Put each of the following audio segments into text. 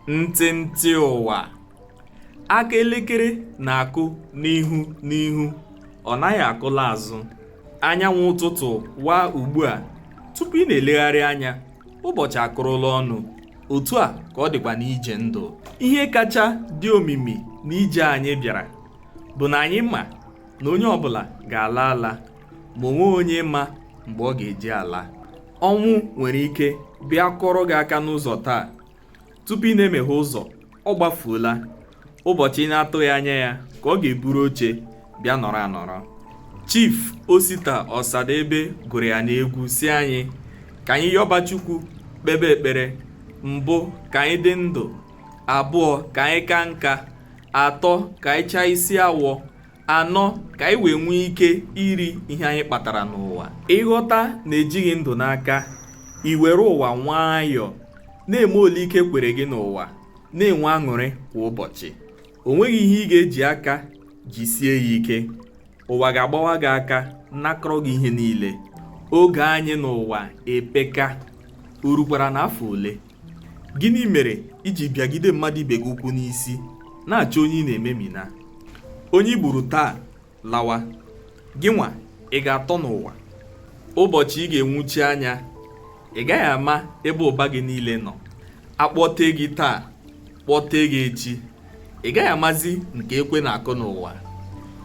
ntịntị ụwa aka elekere na-akụ n'ihu n'ihu ọ naghị akụla azụ anyanwụ ụtụtụ waa ugbu a tupu ị na-elegharị anya ụbọchị akụrụla ọnụ otu a ka ọ dịkwa n'ije ndụ ihe kacha dị omimi n'ije anyị bịara bụ na anyị ma na onye ọbụla ga-ala ala ma o nweghị onye ma mgbe ọ ga-eji ala ọnwụ nwere ike bịa kụrụ gị aka n'ụzọ taa tupu ị na-emeghe ụzọ ọ gbafuola ụbọchị ị na-atụghị anya ya ka ọ ga-eburu oche bịa nọrọ anọrọ Chief Osita Ọsadebe gụrụ ya n'egwu sị anyị ka anyị yọba Chukwu kpebe ekpere mbụ ka anyị dị ndụ abụọ ka anyị ka nka atọ ka anyị chaa isi awọ anọ ka anyị wee nwee ike iri ihe anyị kpatara n'ụwa ị ghọta na e jighị ndụ n'aka i were ụwa nwayọọ na-eme ole ike kwere gị n'ụwa na-enwe aṅụrị kwa ụbọchị o nweghị ihe ị ga-eji aka jisie ya ike ụwa ga-agbawa gị aka nakọrọ gị ihe niile oge anyị n'ụwa epeka o rukwara n'afọ ole Gịnị mere i ji bịagide mmadụ ibe gị ụkwụ n'isi na-achọ onye ị na-ememina? Onye i gburu taa lawa, gị nwa ị ga-atọ n'ụwa. Ụbọchị ị ga-enwuchi anya, ị gaghị ama ebe ụba gị niile nọ. A kpọtee gị taa, kpọtee gị echi, ị gaghị amazi nke ekwe na-akụ n'ụwa.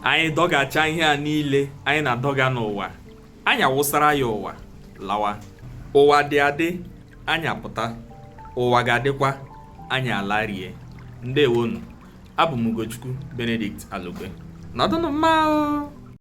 Anyị dọgacha ihe a niile anyị na-adọga n'ụwa, Anyị awụsara ya ụwa lawa ụwa dị adị anyị apụta ụwa ga-adịkwa anyị alarie ndewonu abụ m Ugochukwu Benedict Alogbe nọdụnụ mma